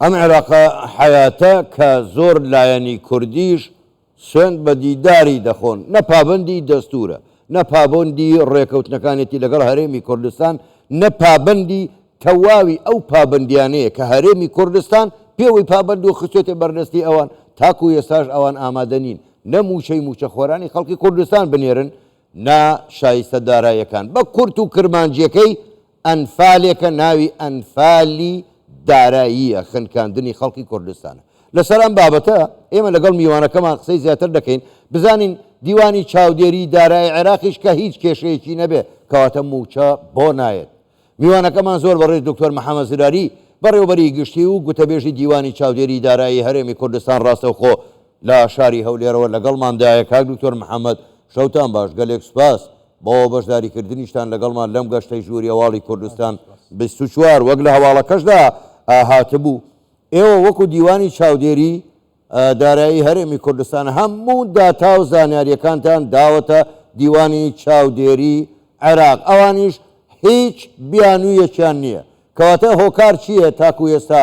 ئەم عێراقە حەیاتە کە زۆر لایەنی کوردیش سوێند بە دیداری دەخۆن، نە پابەندی دەستوورە، نە پابەندی ڕێکەوتنەکانێتی لەگەڵ هەرێمی کوردستان، نە پابەندی تەواوی ئەو پابەندییانەیە کە هەرێمی کوردستان پێوەی پابەندە و خستووەتە بەردەستی ئەوان، تاکوو ئێستاش ئەوان ئامادە نین نە مووچەی مووچەخۆرانی خەڵکی کوردستان بنێرن، نە شایستە داراییەکان بە کورت و کرمانجییەکەی ئەنفالێکە ناوی ئەنفالی داراییە خنکاندنی خەڵکی کوردستانە. لەسەر ئەم بابەتە ئێمە لەگەڵ میوانەکەمان قسەی زیاتر دەکەین بزانین دیوانی چاودێری دارای عێراقیش کە هیچ کێشەیەکی نەبێ کەواتە مووچە بۆ نایەت. میوانەکەمان زۆر بەڕێز دکتۆر محەمەد زراری بەڕێوەبەری گشتی و گوتەبێژی دیوانی چاودێری دارایی هەرێمی کوردستان ڕاستەوخۆ لە شاری هەولێرەوە لەگەڵمان دایە کاک دکتۆر محمد، شەوتان باش، گەلێک سوپاس بۆ بەشداری کردنیشتان لەگەڵمان لەم گەشتەی ژووری هەواڵی کوردستان بیست و چوار، وەک لە هەواڵەکەشدا هاتبوو ئێوە وەکو دیوانی چاودێری دارایی هەرێمی کوردستان هەموو داتا و زانیاریەکانتان داوەتە دیوانی چاودێری عێراق ئەوانیش هیچ بیانویەکیان نیە کەواتە هۆکار چیە تاکو ئێستا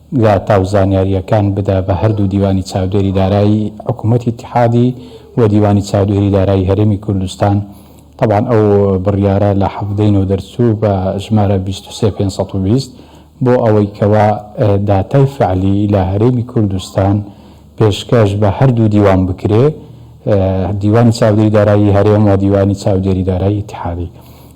داتا و زانیارییەکان بدا بە هەردوو دیوانی چاودێری دارایی حکوومەتی ئیتیحادی و دیوانی چاودێری دارایی هەرێمی کوردستان، تەبعەن ئەو بڕیارە لە حەڤدە ی نۆ دەرچوو بە ژمارە بیست و سێ پێنج سەد و بیست، بۆ ئەوەی کەوا داتای فەعلی لە هەرێمی کوردستان پێشکەش بە هەردوو دیوان بکرێ، دیوانی چاودێری دارایی هەرێم و دیوانی چاودێری دارایی ئیتیحادی.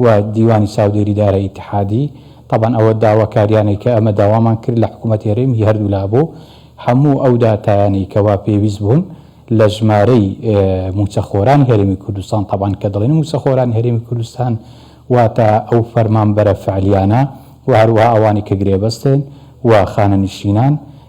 و دیوانی چاودێری دارای ئیتحادی، تەبعەن ئەوە داواکاریانەی کە ئەمە داوامان کرد لە حکوومەت هەرێم هی هەردوو لا بوو، هەموو ئەو داتایانەی کە وا پێویست بوون لە ژمارەی مووچەخۆرانی هەرێمی کوردستان، تەبعەن کە دەڵێن مووچەخۆرانی هەرێمی کوردستان واتە ئەو فەرمانبەرە فەعلیانە و هەروەها ئەوانەی کە گرێبەستن و خانەنشینان،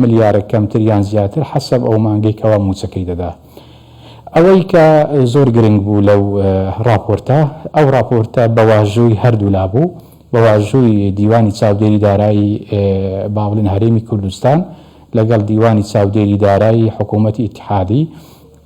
ملیارێک کەمتر یان زیاتر حەسەب ئەو مانگەی کەوا مووچەکەی دەدا. ئەوەی کە زۆر گرنگ بوو لەو ڕاپۆرتە، ئەو ڕاپۆرتە بە واژووی هەردوولا بوو، بە واژووی دیوانی چاودێری دارایی با بڵێن هەرێمی کوردستان لەگەڵ دیوانی چاودێری دارایی حکوومەتی ئیتحادی،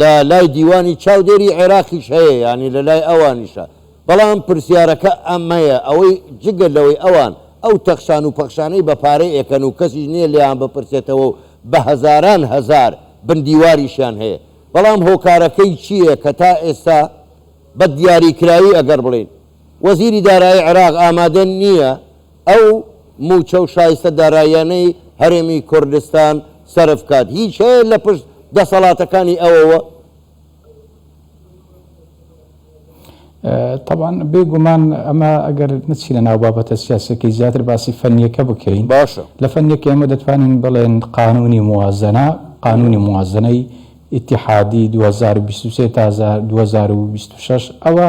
لە لای دیوانی چاودێری عێراقیش هەیە یانی لە لای ئەوانیشە، بەڵام پرسیارەکە ئەمەیە ئەوەی جگە لەوەی ئەوان ئەو تەخشان و پەخشانەی بە پارەی ئەکەن و کەسیش نییە لێیان بپرسێتەوە و بە هەزاران هەزار بن دیواریشیان هەیە بەڵام هۆکارەکەی چییە کە تا ئێستا بە دیاریکراوی ئەگەر بڵێین وەزیری دارایی عێراق ئامادە نییە ئەو مووچە و شایستە داراییانەی هەرێمی کوردستان سەرف بکات، هیچ هەیە لە پشت دەسەڵاتەکانی ئەوەوە؟ تەبعەن بێ گومان ئەمە ئەگەر نەچینە ناو بابەتە سیاسیەکەی زیاتر باسی فەنیەکە بکەین باشە لە فەنیەکە ئێمە دەتوانین بڵێن قانونی موازنە قانونی موازنەی ئیتحادی 2023 تا 2026 ئەوە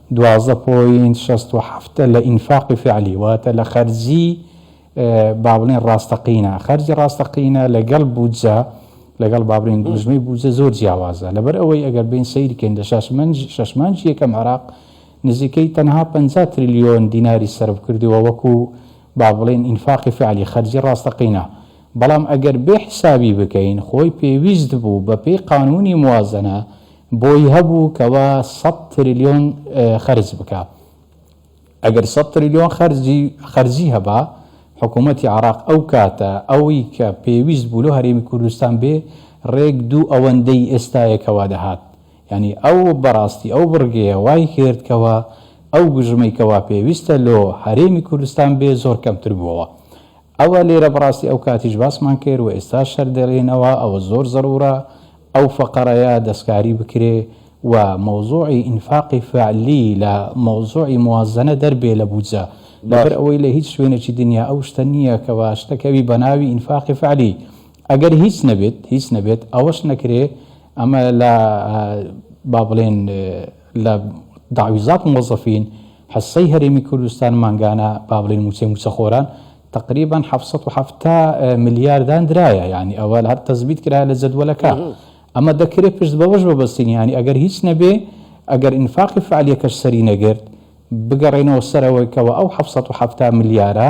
دوازدە پۆینت شەست و حەفت لە ئینفاقی فعلی واتە لە خەرجی با بڵێن ڕاستەقینە خەرجی ڕاستەقینە لەگەڵ بودجە لەگەڵ بابرین دوژمەی بودجە زۆر جیاوازە لەبەر ئەوەی ئەگەر بین سیرکەین لە شەشمانج یەکەم عراق نزیکەی تەنها 50 تریلیۆن دیناری سرف کردووە وەکو با بڵێن ئینفاقی فعلی خەرجی ڕاستەقینە بەڵام ئەگەر بێ حیسابی بکەین خۆی پێویست بوو بە پێی قانوونی موازەنە بۆی هەبوو کەوا سەد تریلیۆن خەرج بکا ئەگەر سەد تریلیۆن خەرجی خەرجی هەبا حکوومەتی عراق ئەو کاتە ئەوی کە پێویست بوو لۆ هەرێمی کوردستان بێ ڕێک دوو ئەوەندەی ئێستایە کەوا دەهات یانی ئەو بەڕاستی ئەو بڕگەیە وای کرد کەوا ئەو گوژمەی کەوا پێویستە لۆ هەرێمی کوردستان بێ زۆر کەمتر بووەوە ئەوە لێرە بەڕاستی ئەو کاتیش باسمان کرد و ئێستاش هەر دەلێینەوە ئەوە زۆر زەرورە ئەو فەقەرەیە دەستکاری بکرێ و مەوزوعی ئینفاقی فەعلی لە مەوزوعی موازەنە دەربێ لە بودجە لەبەر باش. ئەوەی لە هیچ شوێنێکی دنیا ئەو شتە نییە کەوا شتە کەوی بە ناوی ئینفاقی فەعلی ئەگەر هیچ نەبێت هیچ نەبێت ئەوەش نەکرێ ئەمە لە با بڵێن لە دەعویزات موەزەفین حصەی هەرێمی کوردستان مانگانە با بڵێین موچەی موچەخۆران تقریبا حەفت سەد و حەفتا ملیار داندرایە یانی ئەوە هەر تەزبیت کرایە لە جەدوەلەکە ئەمە دەکرێت پشت بەوەش بەبەستین یانی ئەگەر هیچ نەبێ ئەگەر ئینفاقی فعالیەکەش سەری نەگرت بگەڕێنەوە سەرەوەی کەەوە ئەو حەفت سەد و حەفتا ملیارە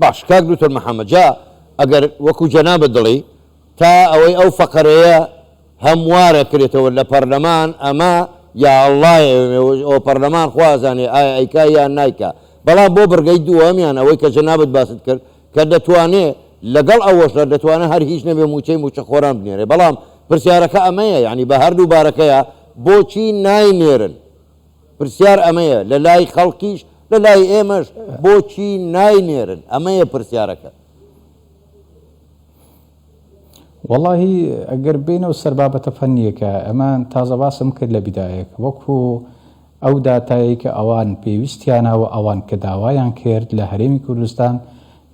باشە کاک دوکتور محمد جا ئەگەر وەکو جەنابت دڵی تا ئەوەی ئەو فەقەرەیە هەم وارە کرێتەوە لە پەرلەمان ئەمە یا اللە ئەوە پەرلەمان خوا ئەزانێ ئایا ئەیکا یان نایکا بەڵام بۆ بڕگەی دووەمیان ئەوەی کە جەنابت باست کرد کە دەتوانێ لەگەڵ ئەوەشدا دەتوانێ هەر هیچ نەبێ مووچەی مووچەخۆران بنێرێ بەڵام پرسیارەکە ئەمەیە یانی بە هەردوو بارەکەیە بۆچی ناینێرن؟ پرسیار ئەمەیە لە لای خەڵکیش لە لای ئێمەش بۆچی ناینێرن ئەمەیە پرسیارەکە. وەڵاهی ئەگەر بێینەوە سەر بابەتە فەنییەکە ئەمە تازە باسم کرد لە بیدایەک وەکو ئەو داتایەی کە ئەوان پێویستیانە و ئەوان کە داوایان کرد لە هەرێمی کوردستان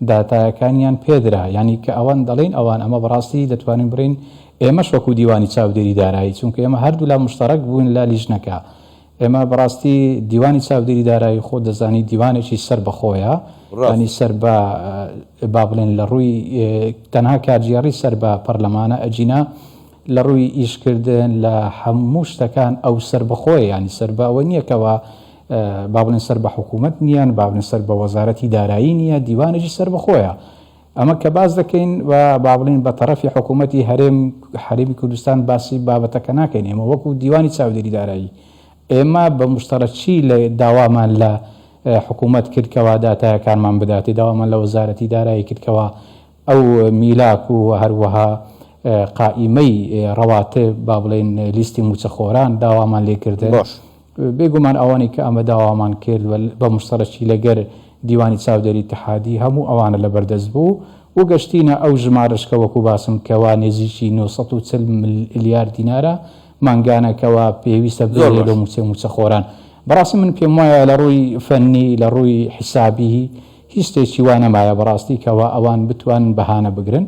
داتایەکانیان پێدرا یانی کە ئەوان دەڵین ئەوان ئەمە بەڕاستی دەتوانین بڵین ئێمەش وەکو دیوانی چاودێری دارایی چونکە ئێمە هەردوولا مشتەڕەک بووین لە لیژنەکە ئێمە بەڕاستی دیوانی چاودێری دارایی خۆ دەزانی دیوانێکی سەر بەخۆیە ڕانی سەر بە با بڵێن لە ڕووی تەنها کارگێڕی سەر بە پەرلەمانە ئەجینا لە ڕووی ئیشکردن لە هەموو شتەکان ئەو سەر بەخۆی ینی سەر بە ئەوە نییەکەوە با بڵێن سەر بە حکوومەت نییە، با بڵێن سەر بە وەزارەتی دارایی نییە، دیوانێکی سەربەخۆیە. ئەمە کە باس دەکەین و با بڵێین بە تەڕەفی حکوومەتی هەرێم، هەرێمی کوردستان باسی بابەتەکە ناکەین. ئێمە وەکوو دیوانی چاودێری دارایی، ئێمە بە موستەڕەچی لە داوامان لە حکوومەت کرد کەوا داتایەکانمان بداتێ، داوامان لە وەزارەتی دارایی کرد کەوا ئەو میلاک و هەروەها قائیمەی ڕەواتب، با بڵێین لیستی مووچەخۆران داوامان لێ کردن. بێ گومان ئەوانەی کە ئەمە داوامان کرد و بە موشتەرەکی لە گەر دیوانی چاودێری اتحادی هەموو ئەوانە لە بەر دەست بوو و گەشتینە ئەو ژمارەش کە وەکوو باسم کەوە نێزیکی نۆ سەد و چل ملیار دینارە مانگانە کەوە پێویستە زۆر بێرێ لۆ باش مووچەی مووچەخۆران. بەڕاستی من پێم وایە لە ڕووی فەنی لە ڕووی حیسابی هیچ شتێکی وا نەمایە بەڕاستی کەوە ئەوان بتوانن بەهانە بگرن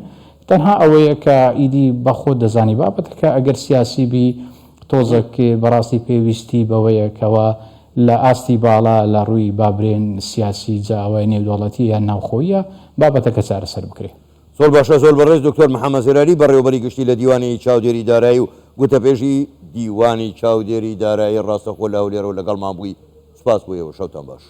تەنها ئەوەیە کە ئیدی بە خۆت دەزانی بابەتەکە ئەگەر سیاسی بی تۆزەک بەڕاستی پێویستی بەوەیە کەوا لە ئاستی باڵا لە ڕووی با برێن سیاسی جا ئەوە نێودەوڵەتیە یان ناوخۆییە بابەتەکە چارەسەر بکرێ. زۆر باشە زۆر بەڕێز دکتۆر محمد زراری بەڕێوەبەری گشتی لە دیوانی چاودێری دارایی و گوتەبێژی دیوانی چاودێری دارایی ڕاستەخۆ لە هەولێرەوە لەگەڵمان بووی سوپاس بۆ ئێوە شەوتان باش.